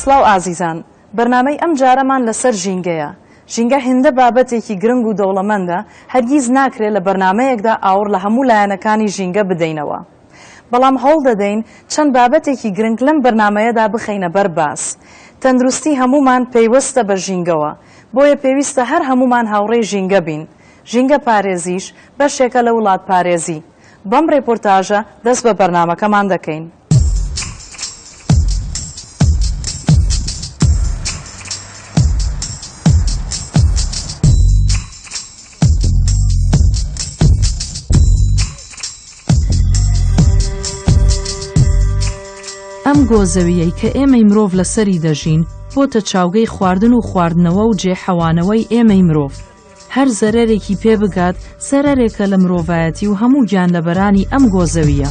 سڵاو ئازیزان بەرنامەی ئەم جارەمان لەسەر ژینگەیە ژینگە هێندە بابەتێکی گرنگ و دەوڵەمەندە هەرگیز ناکرێت لە بەرنمەیەکدا ئاوڕ لە هەموو لایەنەکانی ژینگە بدەینەوە بەڵام هەوڵ دەدەین چەند بابەتێکی گرنگ لەم بەرنمەیەدا بخەینە بەر باس تەندروستی هەمومان پەیوەستە بە ژینگەوە بۆیە پێویستە هەر هەموومان هاوڕێی ژینگە بین. ژینگە پارێزیش بەشێکە لە وڵاتپارێزی. بەم ڕێپۆرتاژە دەست بە بەرنامەکەمان دەکەین. ئەم گۆ زەوییەی کە ئێمەی مرۆڤ لەسەری دەژین بۆتە چاوگەی خواردن و خواردنەوە و جێ حەوانەوەی ئێمەی مرۆڤ. هەر زەرەرێکی پێ بگات زەرەرێکە لە مرۆڤایەتی و هەموو گیان لەبەرانی ئەم گۆ زەوییە.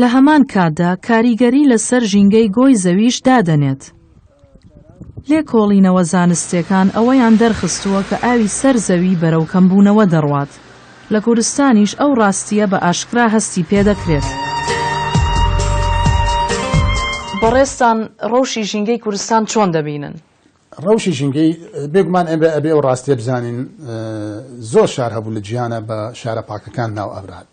لە هەمان کاتدا کاریگەری لەسەر ژینگەی گۆی زەویش دادەنێت. لێکۆڵینەوە زانستیەکان ئەوەیان دەرخستووە کە ئاوی سەر زەوی بەرەو کەمبوونەوە دەڕوات، لە کوردستانیش ئەو ڕاستییە بە ئاشکرا هەستی پێدەکرێت. بەڕێزتان ڕەوشی ژینگەی کوردستان چۆن دەبینن؟ ڕەوشی ژینگەی، بێگومان ئێمە ئەبێ ئەو ڕاستییە بزانین زۆر شار هەبوو لە جیهانا بە شارە پاکەکان ناو ئەبرات،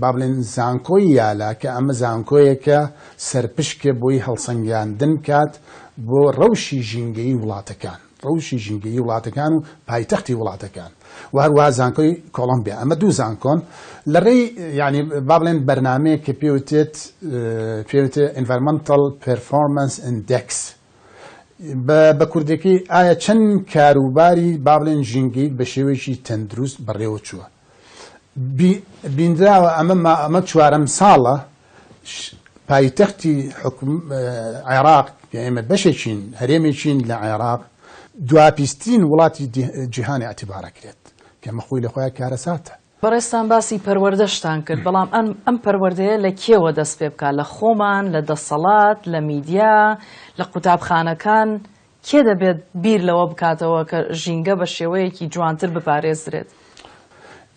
با بڵێن زانکۆی یالا کە ئەمە زانکۆیەکە سەرپشکە بۆی هەڵسەنگاندن بکات بۆ ڕەوشی ژینگەیی وڵاتەکان ڕەوشی ژینگەیی وڵاتەکان و پایتەختی وڵاتەکان و هەروە زانکۆی کۆڵمبیا ئەمە دوو زانکۆن لە ڕێی ینی با بڵێن بەرنمەیە کە پێوتێت پێوتێ ئینڤەرمەنتەڵ پرفۆمەنس ئەندێکس بە کوردەکەی ئایا چەند کاروباری بابلێن ژینگەیت بە شێوەیەکی تەندروست بەڕێوە چووە بینراوە، ئەمە چوارەم ساڵە پایتەختی عێراق، کە ئێمە بەشێکین، هەرێمێکین لە عێراق، دواپیسترین وڵاتی جیهان ئیعتیبار ئەکرێت، کە ئەمە خۆی لە خۆیان کارەساتە. بەڕێزتان باسی پەروەردەشتان کرد، بەڵام ئەم پەروەردەیە لە کێوە دەست پێ بکات، لە خۆمان، لە دەسەڵات، لە میدیا، لە قوتابخانەکان، کێ دەبێت بیر لەوە بکاتەوە کە ژینگە بە شێوەیەکی جوانتر بپارێزدرێت؟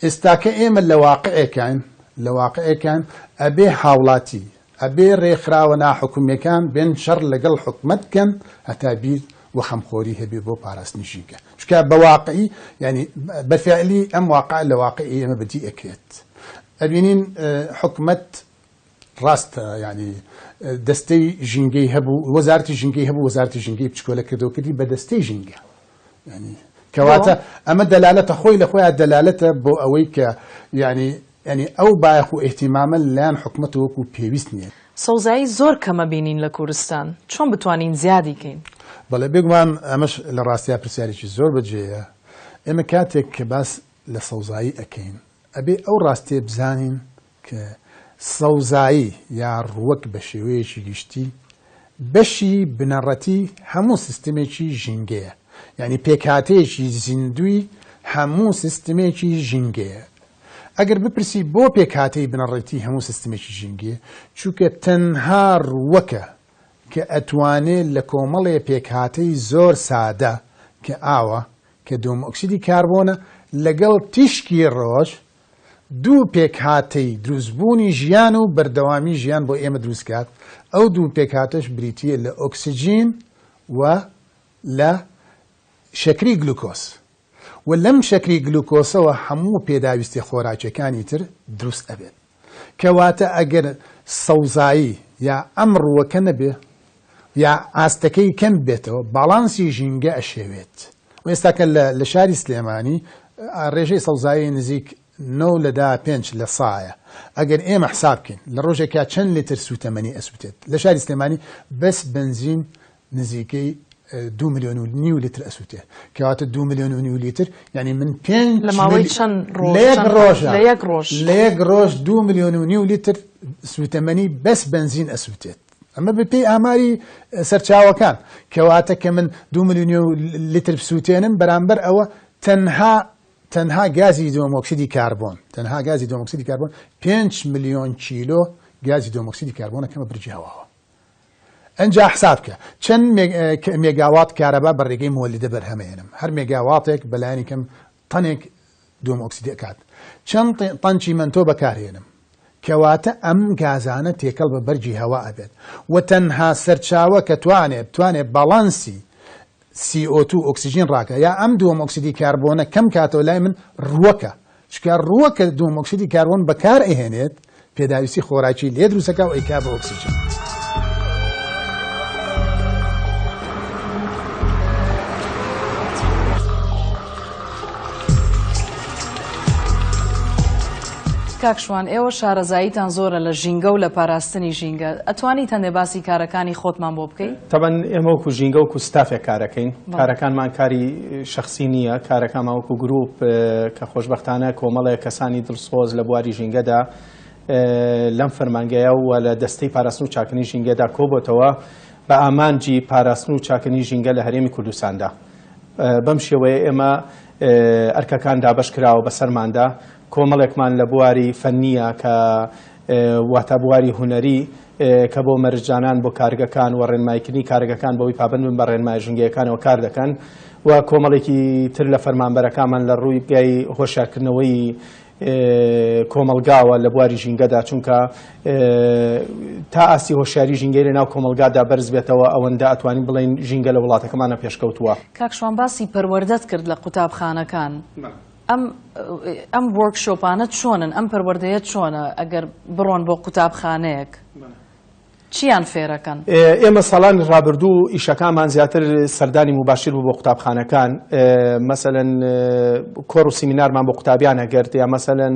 ئێستاکە ئێمە لە واقعێکاین لە واقعێکاین ئەبێ هاوڵاتی، ئەبێ رێکخراوە ناحکومیەکان بێن شەڕ لەگەڵ حکومەت بکەن هەتا بیر وخەمخۆری هەبێ بۆ پاراستنی ژینگە. چونکە بە واقعی یانی بە فعلی ئەم واقعە لە واقعی ئێمە بەدی ئەکرێت. ئەبینین حکومەت ڕاستە یانی دەستەی ژینگەی هەبوو وەزارەتی ژینگەی هەبوو وەزارەتی ژینگەی بچکۆلە کردەوە کردی بە دەستەی ژینگە یانی کەواتە ئەمە دەلالەتە خۆی لە خۆیان دەلالەتە بۆ ئەوەی کە یانی ینی ئەو بایەخ و ئیهتیمامە لەلایەن حکومەت وەکو پێویست نییە. سەوزایی زۆر کەمە بینین لە کورستان چۆن بتوانین زیادی کەین؟ بەڵێ بێگومان ئەمەش لە ڕاستیا پرسیارێکی زۆر بەجێیە ئێمە کاتێک کە باس لە سەوزایی ئەکەین ئەبێ ئەو ڕاستیە بزانین کە سەوزایی یا ڕووەک بە شێوەیەکی گشتی بەشی بنەڕەتی هەموو سیستمێکی ژینگەیە، یانی پێکهاتەیەکی زیندووی هەموو سیستمێکی ژینگەیە. ئەگەر بپرسی بۆ پێکهاتەی بنەڕەتی هەموو سیستمێکی ژینگەیە؟ چونکە تەنها ڕووەکە کە ئەتوانێ لە کۆمەڵێ پێکهاتەی زۆر سادە کە ئاوە، کە دۆمئۆکسیدی کاربۆنە، لەگەڵ تیشکی ڕۆژ دوو پێکهاتەی دروستبوونی ژیان و بەردەوامی ژیان بۆ ئێمە دروست کات، ئەو دوو پێکهاتەش بریتییە لە ئۆکسجین و لە شەکری گلوکۆز و لەم شەکری گلوکۆسەوە هەموو پێداویستیە خۆراکیەکانی تر دروست ئەبێت کەواتە ئەگەر سەوزایی یا ئەم ڕووەکە نەبێ یا ئاستەکەی کەم ببێتەوە باڵانسی ژینگە ئەشێوێت و ئێستاکە لە شاری سلێمانی ڕێژەی سەوزایی نزیک نۆ لە دا پێنج لە سایە ئەگەر ئێمە حساب بکەین لە ڕۆژێکا چەند لتر سووتەمەنی ئەسووتێت لە شاری سلێمانی بەس بنزین نزیکەی دو ملیۆن و نیو لتر ئەسووتێ کەواتە دو ملیۆن و نیو لتر یعنی من پێنج لە ماوەی چەند ڕۆژ لە یەک ڕۆژ لە یەک ڕۆژ دو ملیۆن و نیو لتر سووتەمەنی بەس بنزین ئەسووتێت ئەمە بە پێی ئاماری سەرچاوەکان، کەواتە کە من دوو ملیونیو لیتر بسووتێنم بەرامبەر ئەوە تەنها تەنها گازی دۆمۆکسیدی کاربۆن تەنها گازی دۆمۆکسیدی کاربۆن پێنج ملیۆن کیلۆ گازی دۆمۆکسیدی کاربۆنەکەمە برجی هەواوە ئەجا حساب کە چەند مێگاوات کارەبا بە ڕێگەی مۆلیدە بەرهەمێنم هەر مێگاواتێک بەلایەنی کەم تەنێک دوم ئۆکسیدی ئەکات. چەند تەن چیمەنتۆ بەکارهێنم؟ کەواتە ئەم گازانە تێکەڵ بە بەرگی هەوا ئەبێت و تەنها سەرچاوە کە توانێت بتوانێت باڵانسی CO2 ئۆکسیجین ڕاکە یا ئەم دوم ئۆکسیدی کاربۆنە کەم کاتەوە لای من ڕووەکە چکە ڕووەکە دوم ئۆکسیدی کاربۆن بەکار ئەهێنێت پێداویستی خۆراکی لێ دروستەکە و ئەیکا بە ئۆکسیجن. کاکشوان ئێوە شارەزاییتان زۆرە لە ژینگە و لە پاراستنی ژینگە ئەتوانی تەنێ باسی کارەکانی خۆتمان بۆ بکەیت تەبەن ئێمەوەکو ژینگە و کوستافێک کارەکەین کارەکانمان کاری شەخسی نییە، کارەکانمان وەکو گروپ کە خۆشبەختانە کۆمەڵێک کەسانی دڵسۆز لە بواری ژینگەدا لەم فەرمانگەیە و لە دەستەی پاراستن و چاککردنی ژینگەدا کۆبۆتەوە بە ئامانجی پاراستن و چاککردنی ژینگە لە هەرێمی کوردستاندا. بەم شێوەیە ئێمە ئەرکەکان دابەشکراوە بەسەرماندا، کۆمەڵێکمان لە بواری فەنییە کە واتا بواری هونەری کە بۆ مەرجدانان بۆ کارگەکان و ڕێنماییکردنی کارگەکان بەوەی پابەند بن بە ڕێنمایە ژینگەیەکانەوە کار دەکەن و کۆمەڵێکی تر لە فەرمانبەرەکانمان لە ڕووی پێی هۆشیارکردنەوەی کۆمەڵگاوە لە بواری ژینگەدا چونکە تا ئاستی هۆشیاری ژینگەی لە ناو کۆمەڵگادا بەرز بێتەوە ئەوەندە ئەتوانین بڵێن ژینگە لە وڵاتەکەمانە پێشکەوتووە. کاک شوان باسی پەروەردەت کرد لە قوتابخانەکان. ئەم ئەم وۆرک شۆپانە چۆنن ئەم پەروەردەیە چۆنە ئەگەر بڕۆن بۆ قوتابخانەیەک چیان فێرەکەن؟ ئێمە ساڵانی ڕابردوو ئیشەکانمان زیاتر سەردانی مباشر بوو بۆ قوتابخانەکان مەسەەن کۆڕ و سیمینارمان بۆ قوتابیان ئەگەرت یا مەسەەن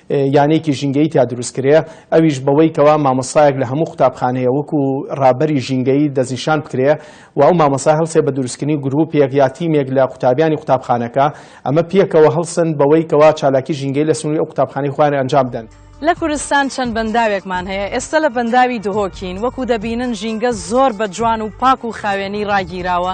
یانەیەکی ژینگەیی تیا دروست کرێ ئەویش بەوەی کەوا مامۆستایەک لە هەموو قوتابخانەیە وەکو ڕابەری ژینگەیی دەستنیشان بکرێ و ئەو مامۆستا هەڵسێ بە دروستکردنی گرووپێک یا تیمێک لە قوتابیانی قوتابخانەکە ئەمە پێکەوە هەڵسن بەوەی کەوا چالاکی ژینگەیی لە سنووری ئەو قوتابخانەی خۆیان ئەنجام بدەن. لە کوردستان چەند بەنداوێکمان هەیە، ئێستە لە بەنداوی دهۆکین، وەکو دەبینن ژینگە زۆر بە جوان و پاک و خاوێنی ڕاگیراوە،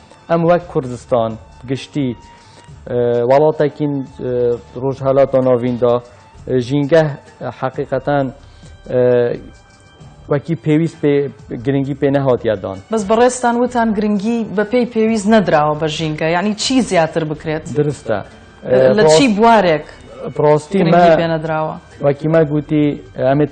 ئەم وەک کوردستان گشتی وڵاتێکین ڕۆژهەلات و ناویندا ژینگە حەقیقەتان وەکی پێویست پێ گرنگی پێ نەهاتیادان بەس بەڕێستان وتان گرنگی بەپی پێویست نەدراوە بە ژینگە یعنی چی زیاتر بکرێت درستە لە چی بوارێک پرۆستی پێنەدراوە وەکیمە گوتی ئەمێت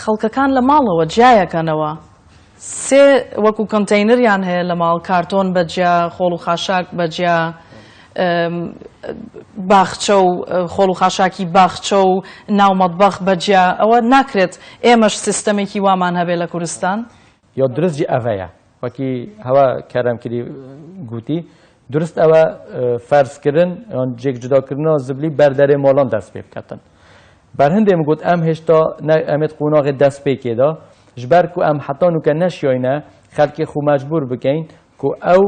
خەڵکەکان لە ماڵەوە جیایەکەنەوە سێ وەکو کەنتەینریان هەیە لە ماڵ کارتۆن بە جیا خۆڵ و خاشاک بە جیا باخچە و خۆڵ و خاشاکی باخچە و ناو مەتبەخ بە جیا ئەوە ناکرێت ئێمەش سیستەمێکی وامان هەبێ لە کورستان یۆ درست جی ئەڤەیە وەکی هەوە کەرەم کری گوتی درست ئەوە فەرز کردن یان جێک جوداکردنەوە زبلی بەر دەرێ مۆڵان دەست پێ بکەتن بەر هەندێ گوت ئەم هێشتا ئەمێت قوناغێ دەست پێکێدا ژبەر کو ئەم حەتان و کە نەشیۆینە خەلکی خو مەجبور بکەین کو ئەو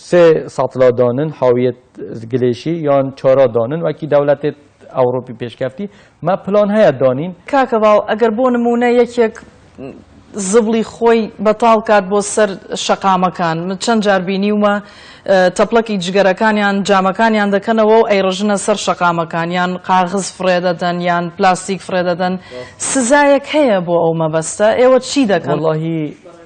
سێ ساتلا دانن حاویەت گلێشی یان چارا دانن وەکی دەولەتێت ئەوڕۆپی پێشکەفتی مە پلان هەیە دانین. کاکە باو ئەگەر بۆ نموونە یەکێک زبڵی خۆی بەتاڵ کات بۆ سەر شەقامەکان من چەند جار بینیومە تەپڵەکی جگەرەکانیان جامەکانیان دەکەنەوە و ئەیڕژنە سەر شەقامەکان یان قاغز فڕێ دەدەن یان پلاستیک فڕێ دەدەن سزایەک هەیە بۆ ئەو مەبەستە ئێوە چی دەکەن؟ وەڵاهی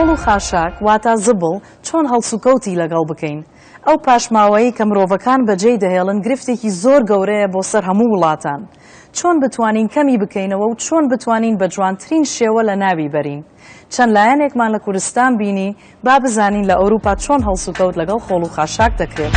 خۆڵ و خاشاک واتە زبڵ چۆن هەڵسوکەوتی لەگەڵ بکەین؟ ئەو پاشماوەیەی کە مرۆڤەکان بەجێی دەهێڵن گرفتێکی زۆر گەورەیە بۆ سەر هەموو وڵاتان. چۆن بتوانین کەمی بکەینەوە و چۆن بتوانین بە جوانترین شێوە لە ناوی بەرین؟ چەند لایەنێکمان لە کوردستان بینی، با بزانین لە ئەوروپا چۆن هەڵسوکەوت لەگەڵ خۆڵ و خاشاک دەکرێت.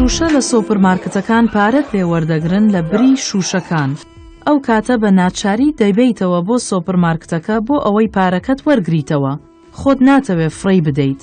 شوشە لە سۆپرمارکتەکان پارەت لێ وەردەگرن لە بری شوشەکان. ئەو کاتە بە ناچاری دەیبیتەوە بۆ سۆپرمارکتەکە بۆ ئەوەی پارەکەت وەرگریتەوە خۆت ناتەوێ فڕی بدەیت.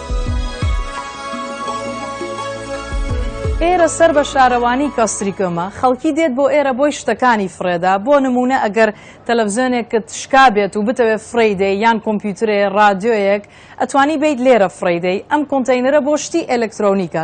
ئێرە سەر بە شارەوانی کاستریکۆمە خەڵکی دێت بۆ ئێرە بۆی شتەکانی فڕێدا بۆ نمونە ئەگەر تەلەڤزیۆنێکت شکا بێت و بتەوێت فڕیدەی یان کۆمپیوترێ ڕادیۆیەک ئەتوانی بیت لێرە فڕیدەی ئەم کۆنتینەرە بۆ شتی ئەلکترۆنیکە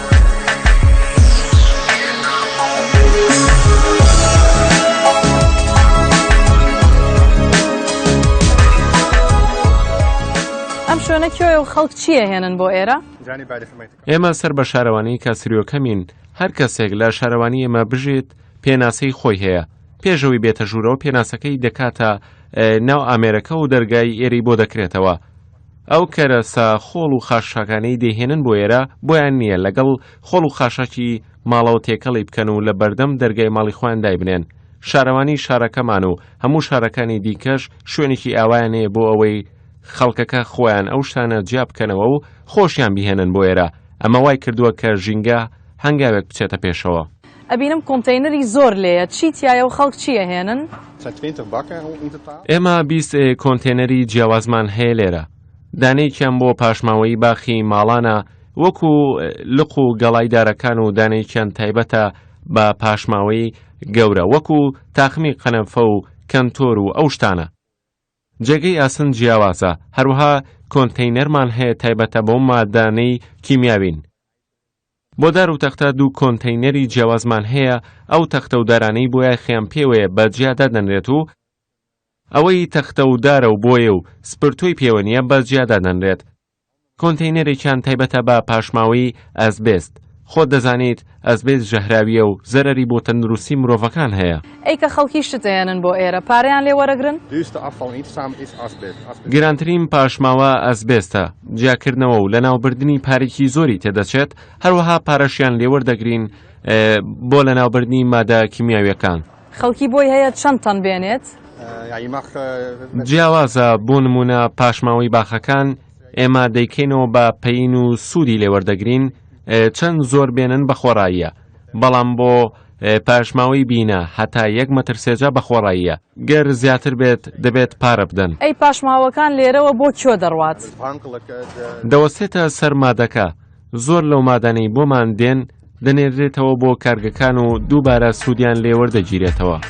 ئەم شوێنە کوێ و خەڵک چییە هێنن بۆ ئێرە؟ ئێمە سەر بە شارەوانی کاسریۆکەمین هەر کەسێک لە شارەوانی ئێمە بژێت پێناسەی خۆی هەیە پێشەوەی بێتە ژوورەوە پێناسەکەی دەکاتە ناو ئامێرەکە و دەرگای ئێری بۆ دەکرێتەوە ئەو کەرەسە خۆڵ و خاشاکانەی دەیهێنن بۆ ئێرە بۆیان نییە لەگەڵ خۆڵ و خاشاکی ماڵەوە تێکەڵی بکەن و لە بەردەم دەرگای ماڵی خۆیان دایبنێن. شارەوانی شارەکەمان و هەموو شارەکانی دیکەش شوێنێکی ئاوایان هەیە بۆ ئەوەی خەڵکەکە خۆیان ئەو شتانە جیا بکەنەوە و خۆشیان بیهێنن بۆ ئێرە، ئەمە وای کردووە کە ژینگە هەنگاوێک بچێتە پێشەوە. ئەبینم کۆنتەینەری زۆر لێیە چی تیایە و خەڵک چی ئەهێنن؟ ئێمە بیست کۆنتەینەری جیاوازمان هەیە لێرە دانەیەکیان بۆ پاشماوەیی باخی ماڵانە وەکو لق و گەڵای دارەکان و دانەیەکیان تایبەتە بە پاشماوەی گەورە وەکو تاقمی قەنەفە و کەنتۆر و ئەو شتانە جێگەی ئاسن جیاوازە هەروەها کۆنتەینەرمان هەیە تایبەتە بەو مادانەی کیمیاوین بۆ دار و تەختە دوو کۆنتەینەری جیاوازمان هەیە، ئەو تەختە و دارانەی بۆ یاخیان پێوەیە بە جیا دادەنرێت و ئەوەی تەختە و دارە و بۆیە و سپرتۆی پێوە نییە بە جیا دادەنرێت. کۆنتەینەرێکیان تایبەتە بە پاشماوەیی ئەسبێست. خۆت دەزانیت ئەسبێست ژەهراوییە و زەرەری بۆ تەندروستی مرۆڤەکان هەیە. ئەی کە خەڵکی شت ئەیەنن بۆ ئێرە پارەیان لێ وەرەگرن؟ گرانترین پاشماوە ئەسبێستە، جیاکردنەوە و لەناوبردنی پارێکی زۆری تێدەچێت، هەروەها پارەشیان لێ وەردەگرین بۆ لەناوبردنی مادە کیمیاویەکان. خەڵکی بۆی هەیە چەند تەن بێنێت؟ جیاوازە، بۆ نموونە پاشماوەی باخەکان ئێمە دەیکەینەوە بە پەین و سوودی لێ وەردەگرین، چەند زۆر بێنن بە خۆڕاییە. بەڵام بۆ پاشماوەی بینە هەتا یەک مەتر سێجا بەخۆڕاییە گەر زیاتر بێت دەبێت پارە بدەن ئەی پاشماوەکان لێرەوە بۆ کۆ دەڕوات دەوەستێتە سەر مادەکە زۆر لەو مادانەی بۆمان دێن دەنێردرێتەوە بۆ کارگەکان و دووبارە سوودیان لێوەردەگیرێتەوە.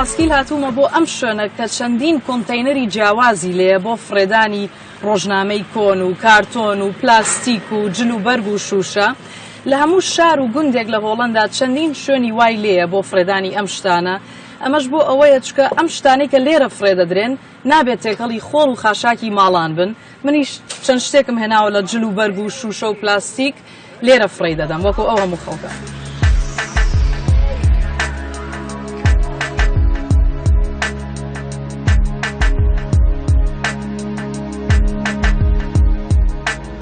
پاسکیل هاتوومە بۆ ئەم شوێنە کە چەندین کۆنتینەری جیاوازی لێ بۆ فڕێدانی ڕۆژنامەی کۆن و کارتۆن و پلاستیک و جل و بەرگ و شوشە لە هەموو شار و گوندێک لە هۆڵەندا چەندین شوێنی وای لێیە بۆ فڕێدانی ئەم شتانە، ئەمەش بۆ ئەوەیە چونکە ئەم شتانەی کە لێرە فڕێ دەدرێن نابێت تێکەڵی خۆڵ و خاشاکی ماڵان بن، منیش چەند شتێکم هێناوە لە جل و بەرگ و شووشە و پلاستیک لێرە فڕێی دەدەم وەکو ئەو هەموو خەڵکە.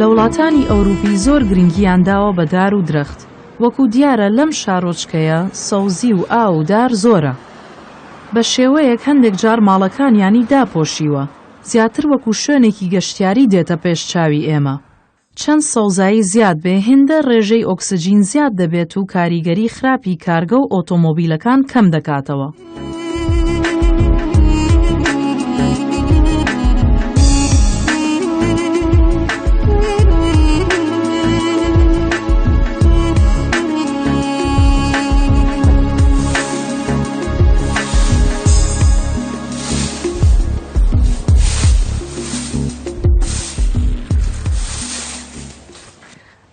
لە وڵاتانی ئەوروپی زۆر گرنگیان داوە بە دار و درەخت وەکو دیارە لەم شارۆچکەیە سەوزی و ئا و دار زۆرە بە شێوەیەک هەندێک جار ماڵەکانیانی داپۆشیوە زیاتر وەکو شوێنێکی گەشتیاری دێتە پێش چاوی ئێمە. چەند سەوزایی زیاد بێ هێندە ڕێژەی ئۆکسجین زیاد دەبێت و کاریگەری خراپی کارگە و ئۆتۆمۆبیلەکان کەم دەکاتەوە.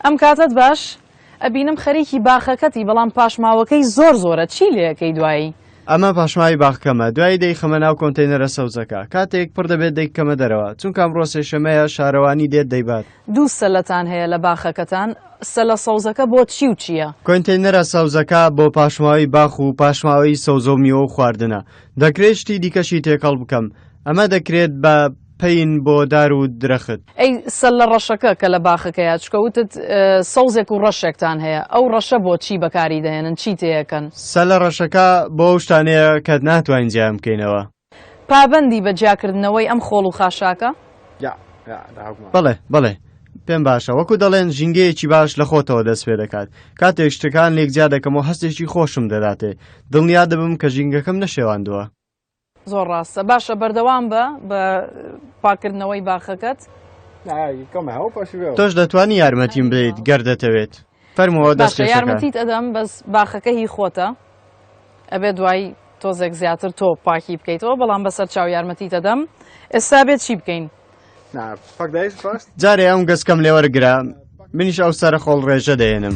ئەم کاتت باش ئەبینم خەریکی باخەکەتی بەڵام پاشماوەکەی زۆر زۆرە چی لەکەی دوایی ئەمە پاشماوی باخکەمە دوایی دەی خەمە ناو کۆنتینەرە سەوزەکە کاتێک پڕ دەبێت دەیکەمە دەرەوە چونکە ئەمڕۆ سێشەمەیە شارەوانی دێت دەیبات دوو سەلەتان هەیە لە باخەکەتان سەلە سەوزەکە بۆ چی و چییە؟ کۆنتینەرە سەوزەکە بۆ پاشماوی باخ و پاشماوەی سەوزە و میوە و خواردنە دەکرێت شتی دیکەشی تێکەڵ بکەم ئەمە دەکرێت بە پین بۆ دار و درەخت. ئەی سەللە ڕەشەکە کە لە باخەکەیە چکە وتت سەوزێک و ڕەشێکتان هەیە ئەو ڕەشە بۆ چی بەکاری دەهێنن چی تێەکەن؟ سەلە ڕەشەکە بۆ ئەو شتانەیە کە ناتوانین جیان بکەینەوە. پابەندی بە جیاکردنەوەی ئەم خۆڵ و خاشاکە بەڵێ بەڵێ پێم باشە وەکو دەڵێن ژینگەیەکی باش لە خۆتەوە دەست پێ دەکات کاتێک شتەکان لێک جیا دەکەم و هەستێکی خۆشم دەداتێ دڵنیا دەبم کە ژینگەکەم نەشێواندووە زۆر ڕاستە باشە بەردەوام بە بە پاکردنەوەی باخەکەت تۆش دەتوانی یارمەتیم بدەیت گەر دەتەوێت فەرمووە دەست باشە کێشەکە یارمەتیت ئەدەم بەس باخەکە هی خۆتە ئەبێ دوای تۆزێک زیاتر تۆ پاکی بکەیتەوە بەڵام بەسەر چاو یارمەتی دەدەم ئێستا بێت چی بکەین نا پاکدایش خواست جارێ ئەم گەسکەم لێوەرگرە منیش ئەو سەرە خۆڵ ڕێژە دێنم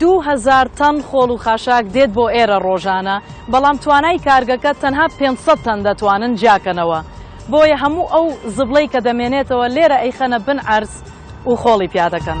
دوو هەزار تەن خۆڵ و خاشاک دێت بۆ ئێرە ڕۆژانە، بەڵام توانای کارگەکە تەنها پێنج سەد تەن دەتوانن جیاکەنەوە، بۆیە هەموو ئەو زبڵەی کە دەمێنێتەوە لێرە ئەیخەنە بن عەرز و خۆڵی پیا دەکەن.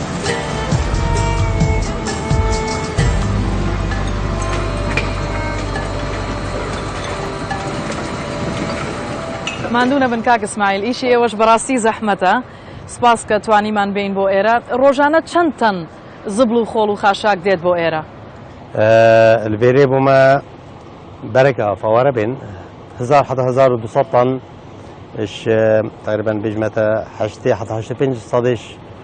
ماندوو نەبن کاک ئیسماعیل ئیشی ئێوەش بەڕاستی زەحمەتە سپاس کە توانیمان بین بۆ ئێرە ڕۆژانە چەند تەن زبڵ و خۆڵ و خاشاک دێت بۆ ئێرە لەێرێ بۆمە بەرەکە ئافاوارە بێن 1970 تان تقریبان بژمەتە 5 سادش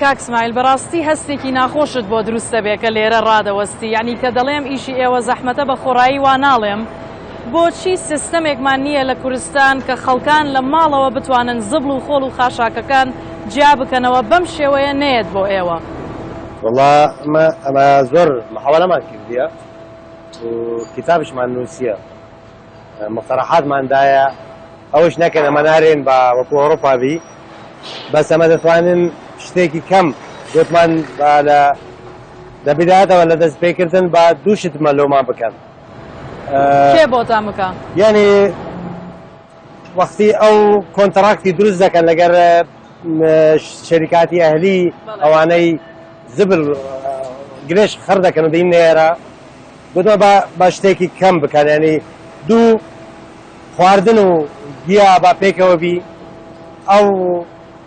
کاک سمایل بەڕاستی هەستێکی ناخۆشت بۆ دروست دەبێت کە لێرە ڕادەوەستی یانی کە دەڵێم ئیشی ئێوە زەحمەتە بە خۆڕایی وا ناڵێم بۆچی سیستەمێکمان نییە لە کورستان کە خەڵکان لە ماڵەوە بتوانن زبڵ و خۆڵ و خاشاکەکان جیا بکەنەوە بەم شێوەیە نەیەت بۆ ئێوە؟ وەڵا ئمە ئەمە زۆر محاوەلەمان کردیە و کیتابشمان نوسیە مقتەڕەحاتمان دایە ئەوش نەکەن ئەمە نارێن بە وەکو ئەوڕۆپا بی بەس ئەمە دەتوانن شتێکی کەم گوتمان با لە لە بدایەتەوە لە دەست پێکردن با دوو شتمە لۆمان بکەن کێ بۆتان بکە یعنی وەختی ئەو کۆنتراکتی دروست دەکەن لەگەر شەریکاتی ئەهلی ئەوانەی زبل گرێش خەر دەکەن و دەین نێرە گوتمە بە شتێکی کەم بکەن ینی دوو خواردن و گیا با پێکەوە بی ئەو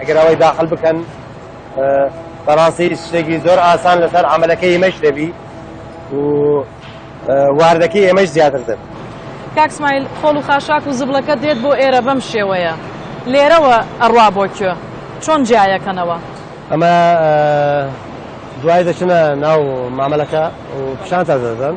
ئەگەر ئەوەی داخل بکەن بەڕاستی شتێکی زۆر ئاسان لەسەر عملەکە ئێمەش دەبی و واردەکەی ئێمەش زیاتر دەب کاکسمایل خۆڵ و خاشاک و زبڵەکە دێت بۆ ئێرە بەم شێوەیە لێرەوە ئەڕوا بۆ کوێ چۆن جیایەکەنەوە ئەمە دوای دەچنە ناو مامەلەکە و پیشان تا دەدەن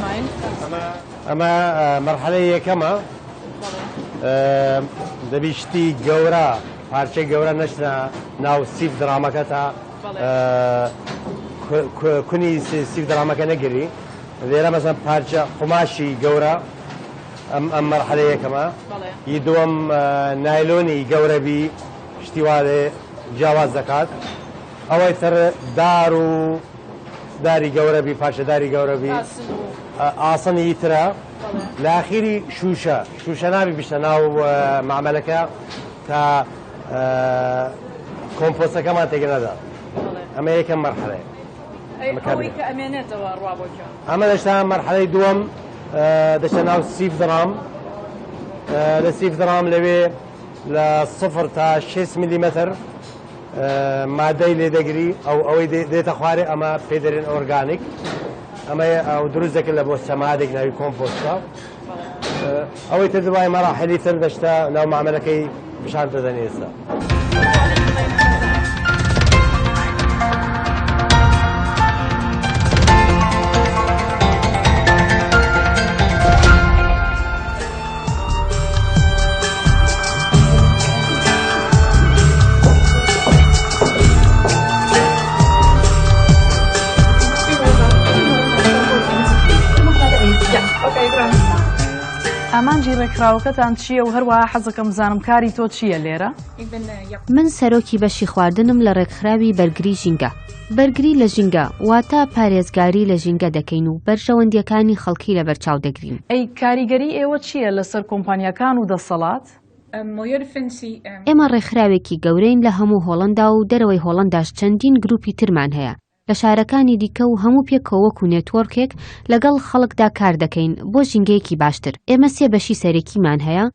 ئەمە مەرحەلەی یەکەمە دەبی شتی گەورە پارچەی گەورە نەشتە ناو سیف درامەکە تا کونی سیف درامەکە نەگری لێرە مەزان پارچە قوماشی گەورە ئەم ئەم مەرحەلە یەکەمە ی دووەم نایلۆنی گەورەبی شتیوالێ جیاواز دەکات ئەوەی تر دار و داری گەورە بی پارچە داری گەورە بی ئاسنی یترە لە ئاخیری شوشە شوشە نابی بشتە ناو معمەلەکە تا کۆمپۆسەکەمان تێگەنەدا ئەمە یەکەم مەرحەلەیە ئەمە دەشتا مەرحەلەی دووەم دەشتە ناو سیف درام لە سیف درام لەوێ لە سفر تا 6 میلیمەتر مادەی لێ دەگری ئەو ئەوەی دێتە خوارێ ئەمە پێ دەرێن ئۆرگانیک ئەمە ئەو دروست دەکرد لە بۆ سەمادێک ناوی کۆمپۆستە ئەوەی تر دوای مەراحلی تر دەشتا ناو معاملەکەی پیشان دەدەن ئێستا. ئامانجی ڕێکخراوەکەتان چییە و هەروە حەزەکەم زانم کاری تۆ چییە لێرە؟ من سەرۆکی بەشی خواردنم لە ڕێکخراوی بەرگری ژینگە. بەرگری لە ژینگە واتە پارێزگاری لە ژینگە دەکەین و بەرژەوەندییەکانی خەڵکی لەبەرچاو دەگرین. ئەی کاریگەری ئێوە چییە لەسەر کۆمپانیاکان و دەسەڵات؟ ئێمە ڕێکخراوێکی گەورەین لە هەموو هۆڵەندا و دەرەوەی هۆڵەنداش چەندین گرووپی ترمان هەیە لە شارەکانی دیکە و هەموو پێکەوە وەکو نێتوۆرکێک لەگەڵ خەڵکدا کار دەکەین بۆ ژینگەیەکی باشتر. ئێمە سێ بەشی سەرەکیمان هەیە.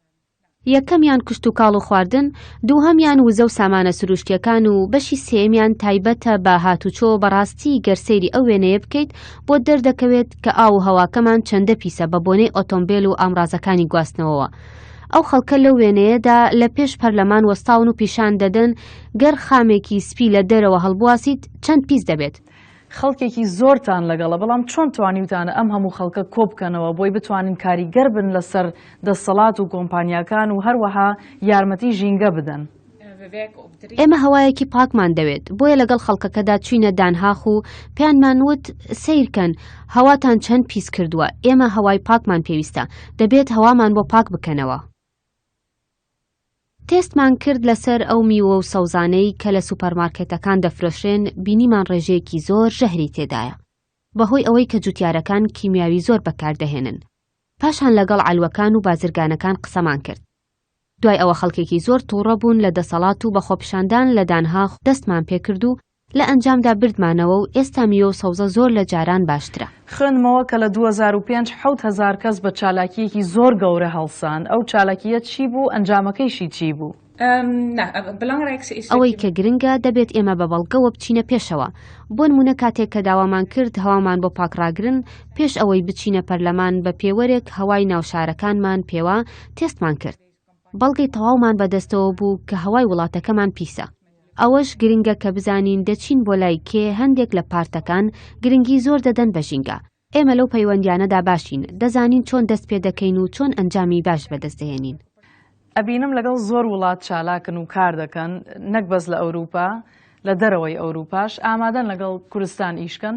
یەکەمیان کشتوکاڵ و خواردن، دووهەمیان وزە و سامانە سروشتییەکان و بەشی سێیەمیان تایبەتە بە هاتوچۆ، بەڕاستی گەر سەیری ئەو وێنەیە بکەیت بۆت دەردەکەوێت کە ئاو و هەواکەمان چەندە پیسە بە بۆنەی ئۆتۆمبێل و ئامڕازەکانی گواستنەوەوە ئەو خەڵکە لەو وێنەیەدا لە پێش پەرلەمان وەستاون و پیشان دەدەن گەر خامێکی سپی لە دەرەوە هەڵبواسیت چەند پیس دەبێت. خەڵکێکی زۆرتان لەگەڵە، بەڵام چۆن توانیوتانە ئەم هەموو خەڵکە کۆبکەنەوە بۆی بتوانن کاریگەر بن لەسەر دەسەڵات و کۆمپانیاکان و هەروەها یارمەتی ژینگە بدەن؟ ئێمە هەوایەکی پاکمان دەوێت، بۆیە لەگەڵ خەڵکەکەدا چووینە دانهاخ و پێیانمان وت، سەیرکەن، هەواتان چەند پیس کردووە، ئێمە هەوای پاکمان پێویستە، دەبێت هەوامان بۆ پاک بکەنەوە. تێستمان کرد لەسەر ئەو میوە و سەوزانەی کە لە سوپەرمارکێتەکان دەفرۆشرێن بینیمان ڕێژەیەکی زۆر ژەهری تێدایە بەهۆی ئەوەی کە جوتیارەکان کیمیاوی زۆر بەکاردەهێنن پاشان لەگەڵ عەلوەکان و بازرگانەکان قسەمان کرد دوای ئەوە خەڵکێکی زۆر تووڕە بوون لە دەسەڵات و بەخۆپیشاندان لە دانهاخ دەستمان پێکرد و لە ئەنجامدا بردمانەوە و ئێستا میوە و سەوزە زۆر لە جاران باشترە. خوێندمەوە کە لە دوو هەزار و پێنج حەوت هەزار کەس بە چالاکییەکی زۆر گەورە هەڵسان، ئەو چالاکییە چی بوو، ئەنجامەکەیشی چی بوو؟ ئەوەی کە گرنگە، دەبێت ئێمە بە بەڵگەوە بچینە پێشەوە. بۆ نموونە کاتێک کە داوامان کرد هەوامان بۆ پاکڕاگرن، پێش ئەوەی بچینە پەرلەمان بە پێوەرێک هەوای ناو شارەکانمان پێوە تێستمان کرد. بەڵگەی تەواومان بە دەستەوە بوو کە هەوای وڵاتەکەمان پیسە. ئەوەش گرنگە کە بزانین دەچین بۆ لای کێ، هەندێک لە پارتەکان گرنگی زۆر دەدەن بە ژینگە. ئێمە لەو پەیوەندیانەدا باشین، دەزانین چۆن دەست پێ دەکەین و چۆن ئەنجامی باش بەدەست دەهێنین. ئەبینم لەگەڵ زۆر وڵات چالاکن و کار دەکەن، نەک بەس لە ئەوروپا، لە دەرەوەی ئەوروپاش ئامادەن لەگەڵ کورستان ئیش کەن.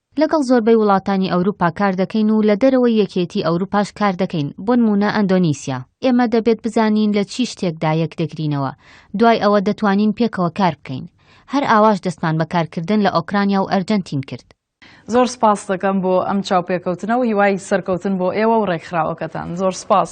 لەگەڵ زۆربەی وڵاتانی ئەوروپا کار دەکەین و لە دەرەوەی یەکێتی ئەوروپاش کار دەکەین، بۆنموونە ئەندۆنیسیا. ئێمە دەبێت بزانین لە چی شتێکدا یەک دەگرینەوە، دوای ئەوە دەتوانین پێکەوە کار بکەین. هەر ئاواش دەستمان بە کارکردن لە ئۆکرانیا و ئەرجەنتین کرد. زۆر سپاست دەکەم بۆ ئەم چاوپێکەوتنە و هیوای سەرکەوتن بۆ ئێوە و ڕێکخراوەکەتان. زۆر سپاس.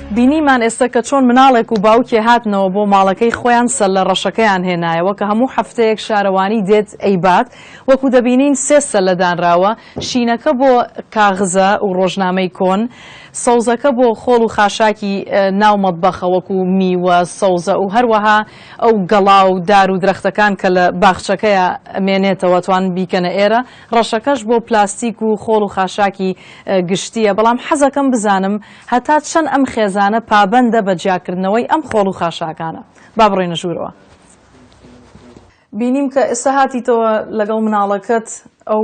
بینیمان ئێستا کە چۆن مناڵێک و باوکێ هاتنەوە بۆ ماڵەکەی خۆیان سەللە ڕەشەکەیان هێنایەوە کە هەموو هەفتەیەک شارەوانی دێت ئەیبات وەکو دەبینین سێ سەللە دانراوە شینەکە بۆ کاغزە و ڕۆژنامەی کۆن سەوزەکە بۆ خۆڵ و خاشاکی ناو مەتبەخە وەکو میوە سەوزە و هەروەها ئەو گەڵا و دار و درەختەکان کە لە باخچەکەیە مێنێتەوە توان بیکەنە ئێرە ڕەشەکەش بۆ پلاستیک و خۆڵ و خاشاکی گشتیە بەڵام حەزەکەم بزانم هەتا چەند ئەم خێزانە پابەندە بە جیاکردنەوەی ئەم خۆڵ و خاشاکانە؟ با بڕۆینە ژوورەوە. بینیم کە ئێستا هاتیتەوە لەگەڵ مناڵەکەت ئەو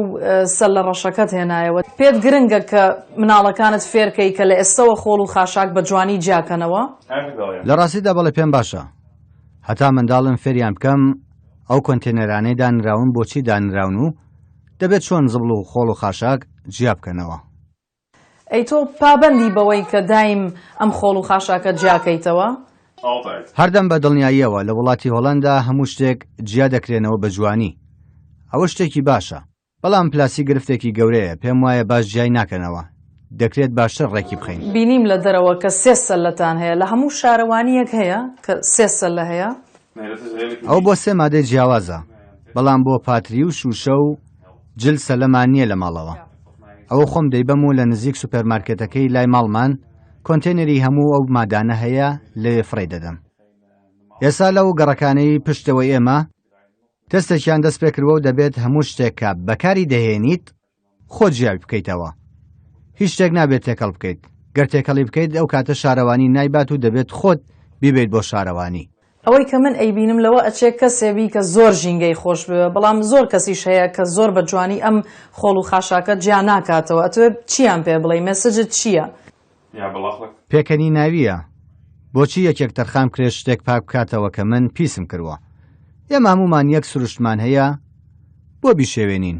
سەللە ڕەشەکەت هێنایەوە. پێت گرنگە کە مناڵەکانت فێرکەی کە لە ئێستەوە خۆڵ و خاشاک بە جوانی جیاکەنەوە؟ لە ڕاستیدا بەڵێ پێم باشە هەتا منداڵم فێریان بکەم ئەو کۆنتێنەرانەی دانراون بۆچی دانراون و دەبێت چۆن زبڵ و خۆڵ و خاشاک جیابکەنەوە. ئەی تۆ پابەندی بەوەی کە دایم ئەم خۆڵ و خاشاکە جیا کەیتەوە؟ هەردەم بە دڵنیاییەوە لە وڵاتی هۆڵەندا هەموو شتێک جیا دەکرێنەوە بە جوانی. ئەوە شتێکی باشە. بەڵام پلاستیک گرفتێکی گەورەیە، پێم وایە باش جیای ناکەنەوە. دەکرێت باشتر ڕێکی بخەین. بینیم لە دەرەوە کە سێ سەللەتان هەیە. لە هەموو شارەوانییەک هەیە کە سێ سەللە هەیە. ئەوە بۆ سێ مادەی جیاوازە بەڵام بۆ پاتری و شوشە و جل سەلەمان نیە لە ماڵەوە ئەوە خۆم دەیبەم و لە نزیک سوپەرمارکێتەکەی لای ماڵمان کۆنتێنەری هەموو ئەو مادانە هەیە لەوێ فڕێ دەدەم ئێسا لەو گەڕەکانەی پشتەوەی ئێمە تەستێکیان دەست پێکردوە و دەبێت هەموو شتێکە بەکاری دەهێنیت خۆت جیای بکەیتەوە هیچ شتێک نابێت تێکەڵ بکەیت گەر تێکەڵی بکەیت ئەو کاتە شارەوانی نایبات و دەبێت خۆت بیبەیت بۆ شارەوانی. ئەوەی کە من ئەیبینم لەوە ئەچێ کەسێ بی کە زۆر ژینگەی خۆش بوێ بەڵام زۆر کەسیش هەیە کە زۆر بە جوانی ئەم خۆڵ و خاشاکە جیا ناکاتەوە ئەتوێ چیان پێ بڵێی مێسجت چیە؟ پێکەنیناویە بۆچی یەکێک تەرخان بکرێت شتێک پاک بکاتەوە کە من پیسم کروە ئێمە هەموومان یەک سروشتمان هەیە بۆ بیشێوێنین؟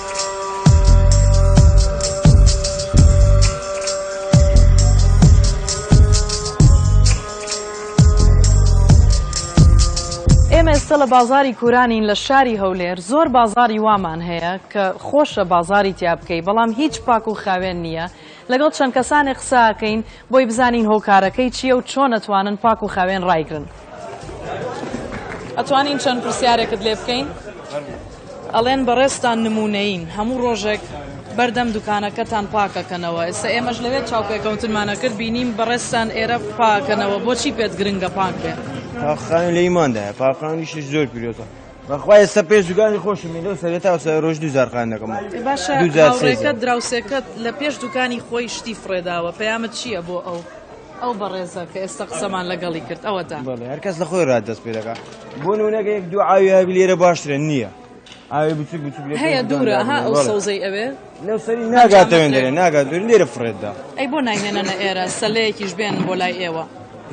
ئێمە ئێستا لە بازاری کورانین لە شاری هەولێر زۆر بازاری وامان هەیە کە خۆشە بازاری تیا بکەی بەڵام هیچ پاک و خاوێن نییە لەگەڵ چەند کەسانی قساکەین بۆی بزانین هۆکارەکەی چییە و چۆن ئەتوانن پاک و خاوێن ڕایگرن. ئەتوانین چەند پرسیارێکت لێ بکەین؟ فەرموو. ئەڵێن بەڕێزتان نموونەیین، هەموو ڕۆژێک بەردەم دوکانەکەتان پاک ئەکەنەوە، ئێستا ئێمەش لەوێ چاوپێکەوتنمان ئەکرد بینیم بەڕێزتان ئێرە پاک ئەکەنەوە، بۆچی پێت گرنگە پاک بێ؟ پاکخاوێن لە ئیماندایە، پاکخاوێنیشیش زۆر پیرۆزە. بەخوای ئێستا پێ دوکانی خۆشم لۆ سەرێ تا سەر ڕۆژ دو زارخان دەکەم باشە دوجارڕێکەت دراوسێکەت لە پێش دوکانی خۆی شتی فرێداوە پەیامت چییە بۆ ئەو ئەو بەڕێزە کە ئێستا قسەمان لەگەڵی کرد ئەوە تا هەرکەس لە خۆی ڕات دەست پێ دەکات بۆ نونەکە یەک دوو ئاوی هەبی لێرە باشترە نییە ئاوی بچوک بچوک هەیە دوورە ها ئەو سەوزەی ئەوێ لەو سەری ناگاتەوێن دەێ ناگات دوور لێرە فرێتدا ئەی بۆ ناهێنەنە ئێرە سەلەیەکیش بێن بۆ لای ئێوە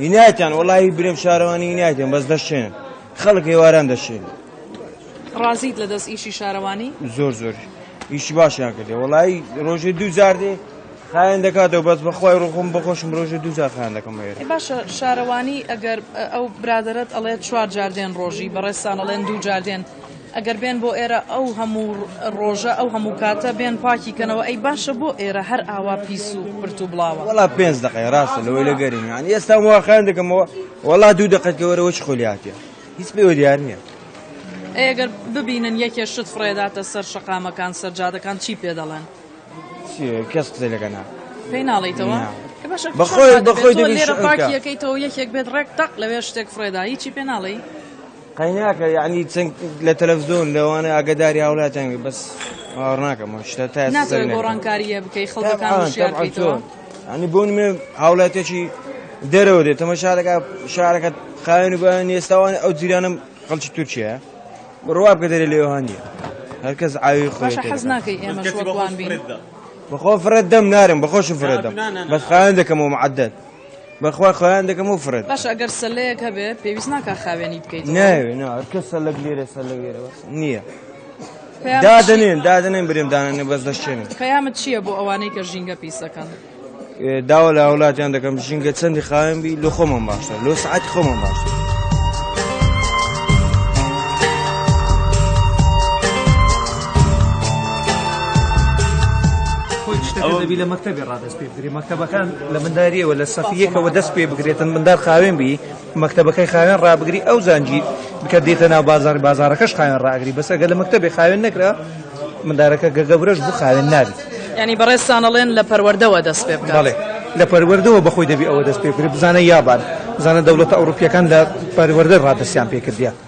هینایتان وڵی برێم شارەوانی هینایتێن بەس دەشێن خەڵک ئێواران دەشێن. ڕازیت لە دەست ئیشی شارەوانی؟ زۆر زۆر ئیشی باشیان کردێ وڵایی ڕۆژێ دوو جار دێ خایەن دەکاتەوە بەس بەخوای ڕۆخۆم بەخۆشم ڕۆژێ دوو جار خان دەکەم هەیە باشە شارەوانی ئەگەر ئەو برادرت ئەڵێ چوار جاردێن ڕۆژی بەڕێستان ئەڵێن دوو جاردێن ئەگەر بێن بۆ ئێرە ئەو هەموو ڕۆژە ئەو هەموو کاتە بێن پاکی کەنەوە ئەی باشە بۆ ئێرە هەر ئاوا پیس و پرت و بڵاوە. وەڵا پێنج دەقەیە ڕاستە لەوەی لە گەرمی یان ئێستا واخیان دەکەمەوە وەڵا دوو دەقەت کە وەرەوە چ خۆلی هاتیە هیچ پێوە دیار نییە. ئەگەر ببینن یەکێ شت فڕێداتە سەر شەقامەکان سەرجادەکان چی پێ دەڵێن کەس قسە لەگە نا پێی ناڵیتەوە بەخۆی بەخۆی لێرە پاکیەکەیتەوە یەکێک بێت ڕێک تەق لەوێ شتێک فڕێدا هیچی پێ ناڵی قەیناکە یعنی چەند لە تەلەڤزیۆن لەوانە ئاگداری هاوڵاتیان بێ بەس باوەڕ ناکەم ئەو شتە تا ئێستا ناتەوێت سەرنەکەوتووە. گۆڕانکارییە بکەی خەڵکەکان طبعاً، هۆشیار طبعاً بکەیتەوە چۆن؟ یعنی بۆ نمێ هاوڵاتیەکی دەرەوە دێت تەمە شارەکە شارەکە خاوێن و بەیان ئێستاوان ئەو جیرانم خەڵکی تورکیایە بڕوا بکە دەرێ لێوە هەندی هەرکەس ئاوی خۆی باشە حەز ناکەی ئێمەش وەک وان بین بەخۆ فرەت دەم نارم بەخۆشم فرەت دەم بەس خاوێن دەکەمەوە معدەت بەخوا خۆیان دەکەم و فرێت باش ئەگەر سەلەیەک هەبێ پێویست ناکە خاوێنی بکەیت ناوێنکە سەلک لێرە سەر لەێرە نییە دادنێن دادنێن برێن دانێ بەس دەشێن پەیامت چییە بۆ ئەوانەی کە ژینگە پیسەکەن داوا لە هاولاتیان دەکەم ژینگە چەندی خاوێن بی لە خۆمان باشە لۆ سعات خۆمان باشە ئەوە دەبی لە مەکتتەبی ڕادە پێبدرێت مەکتەبەکان لە منداریەوە لە سەفی یەکەوە دەست پێ بگرێتن مندار خاوێن بی مەکتەبەکەی خاوێن ڕابگری ئەو زانجی بکە دێتە ناو بازار بازارەکەش خاوێن ڕاگری بەس ئەگە لە مەکتەبێ خاوێن نەکرا مندارەکە گەگەورەش بوو خاوێن نابی ینی بەڕێستانەڵێن لە پەروەردەوە دەست پێ بڵێ لە پەروەردەوە بەخۆی دەبی ئەوە دەست پێ بزانە یابان بزانە دەوڵەتە ئەوروپیەکان لە پەروەردە ڕادسیان پێکردە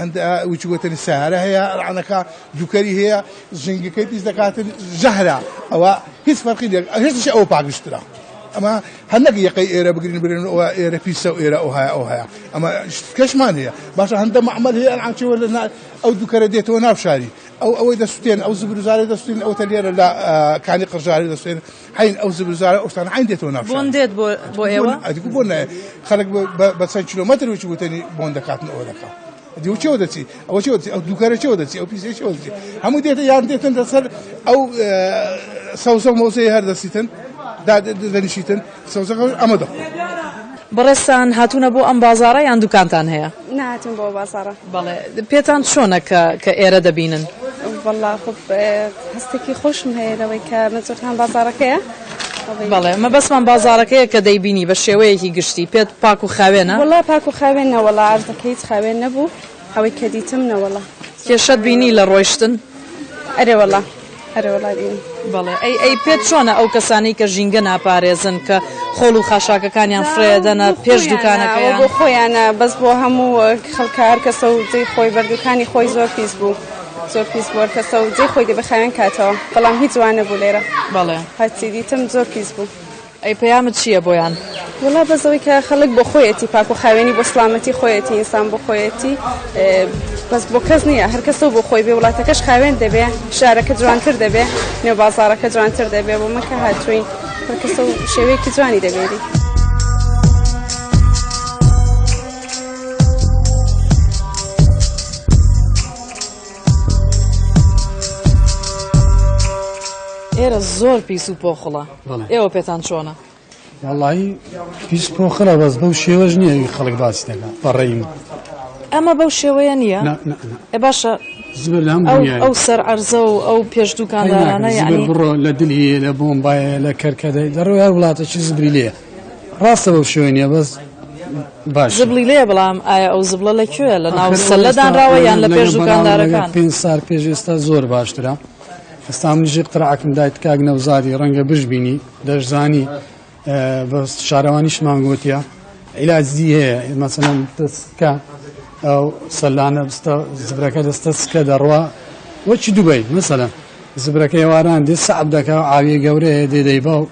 هەندە وچ گۆتەنی سەیارە هەیە ڕانەکە دووکەری هەیە ژنگەکەی پیس دەکاتن ژەهرە ئەوە هیچ فەرقی لێک هێشتش ئەو پاگشترا ئەمە هەندێک یەقەی ئێرە بگرین برێن ئەوە ئێرە پیسە و ئێرە ئەو هەیە ئەو هەیە ئەمە شتکەشمان هەیە باشە هەندە معمل هەیە ئەنچەوە لە ئەو دووکەرە دێتەوە ناوشاری ئەو ئەوەی دەستێن ئەو زبرزارە دەستین ئەو تەلێرە لە کانی قڕژاری دەستێن عەین ئەو زل و زارە ئەو شتانە عەین دێتەوە ناو شار. بۆن دێت بۆ بۆ ئێوە؟ ئەدی گو بۆن نایە خەلک بە بە چەند کیلۆمەتر وچ وتەنی بۆن دەکاتن ئەوە دەکا ئەدی و چێوە دەچی ئەوە چێوە دەچی ئەو دووکەرە چێوە دەچی ئەو پیسە چێوە دەچی هەموو دێتە یان دێتن دەسەر ئەو سەوزە و مەوزەی هەر دەسیتن دا دەنیشیتن سەوزەکە ئەمە دەخۆن. بەڕێزتان هاتوونە بۆ ئەم بازاڕە یان دووکانتان هەیە؟ نەهاتووین بۆ ئەو بازاڕە. بەڵێ پێتان چۆنە کە کە ئێرە دەبینن؟ وەڵا خۆ هەستێکی خۆشم هەیە لەوەی کە مەزۆرتان بازارەکەیە بەڵێ مە بەسمان بازارەکەیە کە دەیبینی بە شێوەیەکی گشتی پێت پاک و خاوێنە وڵا پاک و خاوێنە وەڵا ئاردەکەیت خاوێن نەبوو ئەوەی کە دیتم نەوەڵا کێشەت بینی لە ڕۆیشتن ئەرێ وەڵا ئەرێ وەڵا ئین. بەڵێ ئەی ئەی پێت چۆنە ئەو کەسانەی کە ژینگە ناپارێزن کە خۆڵ و خاشاکەکانیان فڕێدەنە پێش دوکانەکەیان بۆ خۆیانە بەس بۆ هەموو خەڵکە هەر کەسە و جێی خۆی بەردوکانی خۆی زۆر پیس بوو زۆر پیس بووە کەسە و جێی خۆی دەبێ خاوێن کاتەوە بەڵام هیچ جوانە بوو لێرە بەڵێ هەرچی دیتم زۆر پیس بوو ئەی پەیامت چیە بۆیان؟ وەڵا بەس ئەوەی کە خەڵک بۆ خۆیەتی پاک و خاوێنی بۆ سڵامەتی خۆیەتی ئینسان بۆ خۆیەتی بەس بۆ کەس نییە هەر کەسە بۆ خۆی بێ وڵاتەکەش خاوێن دەبێ شارەکە جوانتر دەبێ نێو بازارەکە جوانتر دەبێ بۆ مەکە هاتوین هەر کەسە و شێوەیەکی جوانی دەبێری. ئێرە زۆر پیس و پۆخڵە. ئێوە پێتان چۆنە؟ وەڵی پیس پۆخرە بەس بەو شێوەش نییە خەڵک باسی دەکە بەڕێیم ئەمە بەو شێوەیە نییە ئە باشە ئەو سەر ئەرزە و ئەو پێش دوکاندارانە بڕۆ لە دلی لە بۆم باە لە کەرکەدەی دەڕۆی هەر وڵاتەکی زبری لێ ڕاستە بەو شێوە نیە بەس باش زبلی لێ بڵام ئایا ئەو زبڵە لە کوێ لە ناو سەلەدانراوە یان لە پێش دوکاندارەکان پێ سار پێش ئێستا زۆر باشترە ئێستا من ژیر قرعەکم دایت کاک نەوزادی ڕەنگە بشبینی دەشزانی بە شارەوانیشمان گوتیە عیلاجی هەیە مەسەن دەستکە ئەو سەلانە بستە زبرەکە دەستە سکە دەڕوا وەچی دوبی مەسەە زبرەکەی واران دێ سەعب دەکە ئاوی گەورەیە دێدەی باو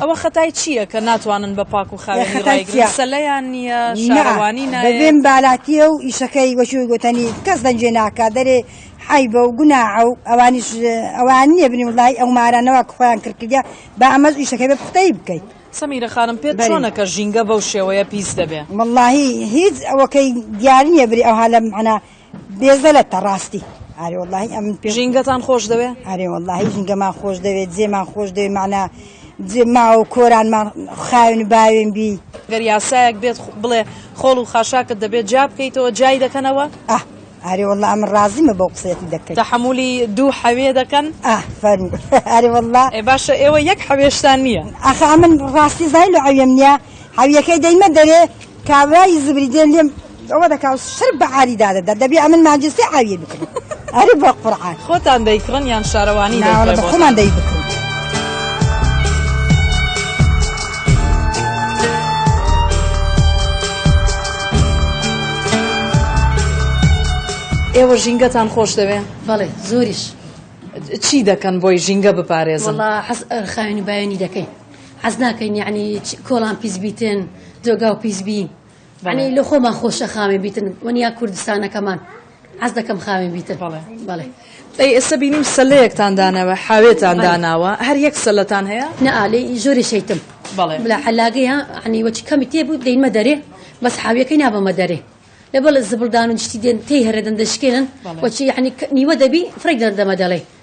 ئەوە خەتای چییە کە ناتوانن بە پاک و خاوێنی ڕایگرن سەلەیان نییە شارەوانی نایە بێن بالاتیە و ئیشەکەی وەشوی گوتنی کەس دەنجێ ناکە دەرێ حیبە و گوناعە و ئەوانیش ئەوان نییە بنی وڵی ئەو مارانەوە خۆیان کردکردە با ئەمەز ئیشەکەی بە پختەی بکەیت سەمیرە خانم پێت چۆنەکە ژینگە بەو شێوەیە پیس دەبێ واللهی هیچ ئەوەکەی دیار نییە بری ئەوها لەم عنا بێزەلەتە ڕاستی ئارێ وەڵاهی ئەمن پێ ژینگەتان خۆش دەوێ ئارێ وەڵاهی ژینگەمان خۆش دەوێت جێمان خۆش دەوێت معنا جێ ماوە و کۆرانمان خاوێن و باوێن بی گەر یاسایەک بێت خ- بڵێ خۆڵ و خاشاکت دەبێت جا بکەیتەوە جای دەکەنەوە ئە ئارێ وەڵا ئەمن ڕازیمە بەو قسەتی دەکەیت تەحملی دوو حەوێ دەکەن ئە فەرمو ئارێ وەڵا ئێ باشە ئێوە یەک حەوێشتان نییە ئەخە ئەمن ڕاستی زای لە عەوێم نیە حەویەکەی دەیمە دەرێ کابرای زبری دێ لێم ئەوە دەکا و سەر بە عاری دادەدا دەبێ ئەمن مانجستێ ئاویە بکرێت ئەرێ بە قورعان خۆتان دەیکڕن یان شارەوانی ناوەڵە بە خۆمان دەی بکرێت ئێوە ژینگەتان خۆش دەوێ بەڵێ زۆریش چی دەکەن بۆی ژینگە بپارێزن خاوێنی بایانی دەکەین حەز ناکەین یعنی کۆڵان پیس بیتن جۆگاو پیس بی ینی لە خۆمان خۆشە خاوێن بیتن وەنیا کوردستانەکەمان حەز دەکەم خاوێن بیتن بەڵێ بەڵێ ئەی ئێستا بینیم سەلەیەکتان داناوە حاوێتان داناوە هەر یەک سەلەتان هەیە نەعالی ژۆری شەیتم بەڵێ لە حەلاگەیە عنی وەچ کەمی تێ بوو دەینمە دەرێ بەس حاویەکەی نابەمە دەرێ لە بەڵێ زبڵدان و شتی دێن تێی هەرێدەن دەشکێنن وەچی عنی نیوە دەبی فڕێک دەردەمە دەڵێ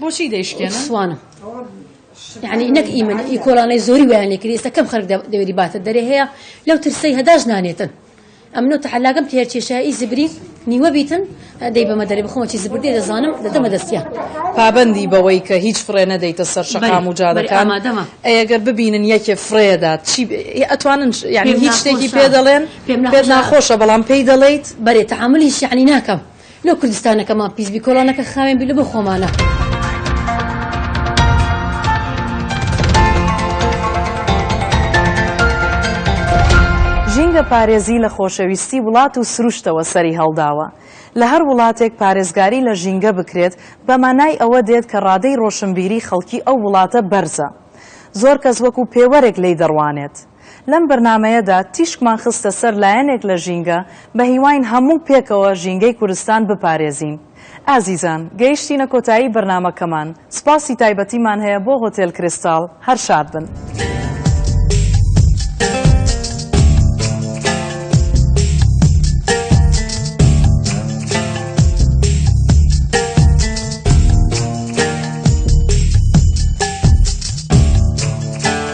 بۆچی دەیشکێنن سوانم یعنی نەک ئیمن ئی کۆلانەی زۆری ویان لێکری ئێستا کەم خەرک دەوێری باتە دەرێ هەیە لەو ترسەی هەداش نانێتن ئەمنۆ تەحلاگەم تێر کێشایی زبری نیوە بیتن دەی بەمە دەرێ بخۆمەچی زبردی دەزانم دەدەمە دەستیا پابندی بەوەی کە هیچ فڕێ نەدەیتە سەر شەقام و جادەکان ئەگەر ببینن یەکێ فرێدات چی ئەتوانن یعنی هیچ شتێکی پێ دەڵێن پێ ناخۆشە بەڵام پێی دەڵیت بەرێ تەعاملی شیعنی ناکەم لۆ کوردستانەکەمان پیس بی کۆڵانەکە خاوێن بی لۆ بۆ خۆمانە. ژینگە پارێزی لە خۆشەویستی وڵات و سروشتەوە سەری هەڵداوە. لە هەر وڵاتێک پارێزگاری لە ژینگە بکرێت بە مانای ئەوە دێت کە ڕادەی ڕۆشنبیری خەڵکی ئەو وڵاتە بەرزە. زۆر کەس وەکو پێوەرێک لێی دەڕوانێت. لەم بەرنامەیەدا تیشکمان خستە سەر لایەنێک لە ژینگە، بە هیواین هەموو پێکەوە ژینگەی کوردستان بپارێزین. ئازیزان، گەیشتینە کۆتایی بەرنامەکەمان، سوپاسی تایبەتیمان هەیە بۆ هۆتێل کریستاڵ، هەر شاد بن.